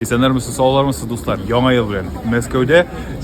Исәннәрмесез, саулармысыз, дуслар? Яңа ел белән. Мәскәүдә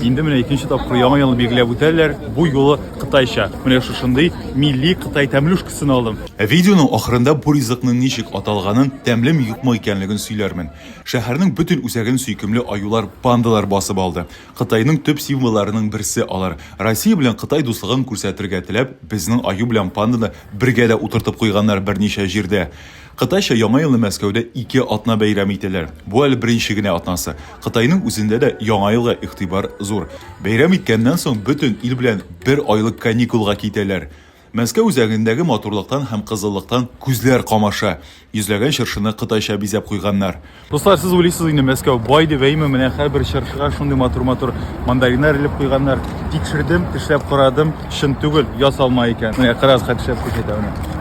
инде менә икенче тапкыр яңа елны билгеләп үтәләр. Бу юлы кытайча. Менә шушындый милли кытай тәмлюшкасын алдым. Видеоның ахырында бу ризыкның ничек аталганын, тәмлеме юкмы икәнлеген сөйләрмен. Шәһәрнең бөтен үзәген сөйкемле аюлар, пандалар басып алды. Кытайның төп символларының берсе алар. Россия белән Кытай дуслыгын күрсәтергә теләп, безнең аю белән панданы бергә дә утыртып куйганнар берничә җирдә. Кытайча Яңа елны Мәскәүдә ике атна бәйрәм итәләр. Бу әле беренче генә атнасы. Кытайның үзендә дә Яңа елга игътибар зур. Бәйрәм иткәннән соң бөтен ил белән бер айлык каникулга китәләр. Мәскәү үзәгендәге матурлыктан һәм кызыллыктан күзләр камаша. Йөзләгән чыршыны кытайча бизәп куйганнар. Дуслар, сез уйлыйсыз инде Мәскәү бай дип әйме, менә һәрбер чыршыга шундый матур-матур мандариннар элеп куйганнар. Тикшердем, тешләп карадым, чын түгел, ясалма икән. Менә кырас хәт эшләп күрсәтә менә.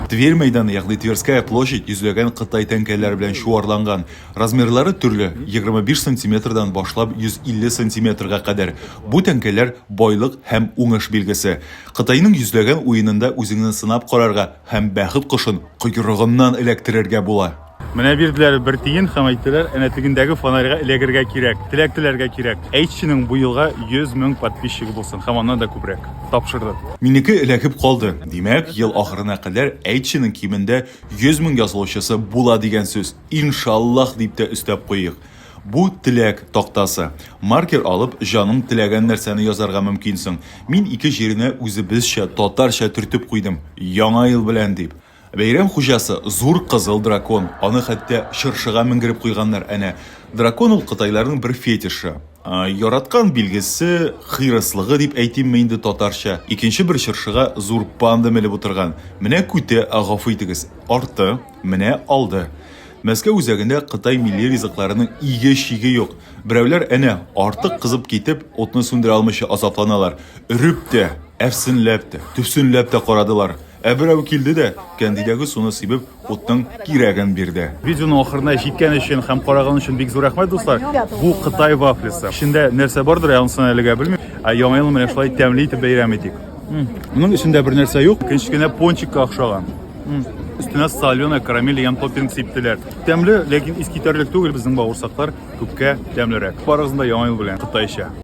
Тверь мәйданы, ягъни Тверская площадь йөзләгән кытай тәңкәләре белән чуарланган. Размерлары төрле, 25 сантиметрдан башлап 150 сантиметрга кадәр. Бу тәңкәләр байлык һәм уңыш билгесе. Кытайның йөзләгән уенында үзеңне сынап карарга һәм бәхет кошын койрыгыннан эләктерергә була. Менә бирделәр бер тиен һәм әйттеләр, әнә тегендәге фонарьга эләгергә кирәк, теләк теләргә кирәк. Әйтченең бу елга 100 мең подписчигы булсын һәм аннан да күбрәк. Тапшырды. Минеке эләгеп калды. Димәк, ел ахырына кадәр әйтченең кимендә 100 мең язылучысы була дигән сүз. Иншаллах дип тә өстәп куйыйк. Бу теләк тактасы. Маркер алып, җаның теләгән нәрсәне язарга мөмкинсең. Мин ике җиренә үзебезчә, татарча төртеп куйдым, Яңа ел белән дип. Бәйрәм хуҗасы, зур кызыл дракон. Аны хәтта чыршыга менгереп куйганнар. Әнә, дракон ул кытайларның бер фетишы. Яраткан билгесе, хирыслыгы дип әйтимме инде татарча. Икенче бер чыршыга зур панда менеп утырган. Менә күтә, гафу итегез, арты, менә алды. Мәскәү үзәгендә кытай милли ризыкларының иге-чиге юк. Берәүләр, әнә, артык кызып китеп, утны сүндерә алмыйча азапланалар. Өреп тә, әрсенләп тә, төпсенләп тә карадылар. Ә берәү килде дә, кәндидәге суны сибеп, утның кирәген бирде. Видеоның ахырына җиткән өчен һәм караган өчен бик зур рәхмәт, дуслар! Бу Кытай вафлисы. Эчендә нәрсә бардыр, ансын әлегә белмим. Ә Яңа елны менә шулай тәмле итеп бәйрәм итик. Моның эчендә бер нәрсә юк. Кечкенә пончикка охшаган. Өстенә соленый карамель дигән топпинг сиптеләр. Тәмле, ләкин искитәрлек түгел, безнең бавырсаклар күпкә тәмлерәк. Барыгызны да Яңа ел белән, кытайча!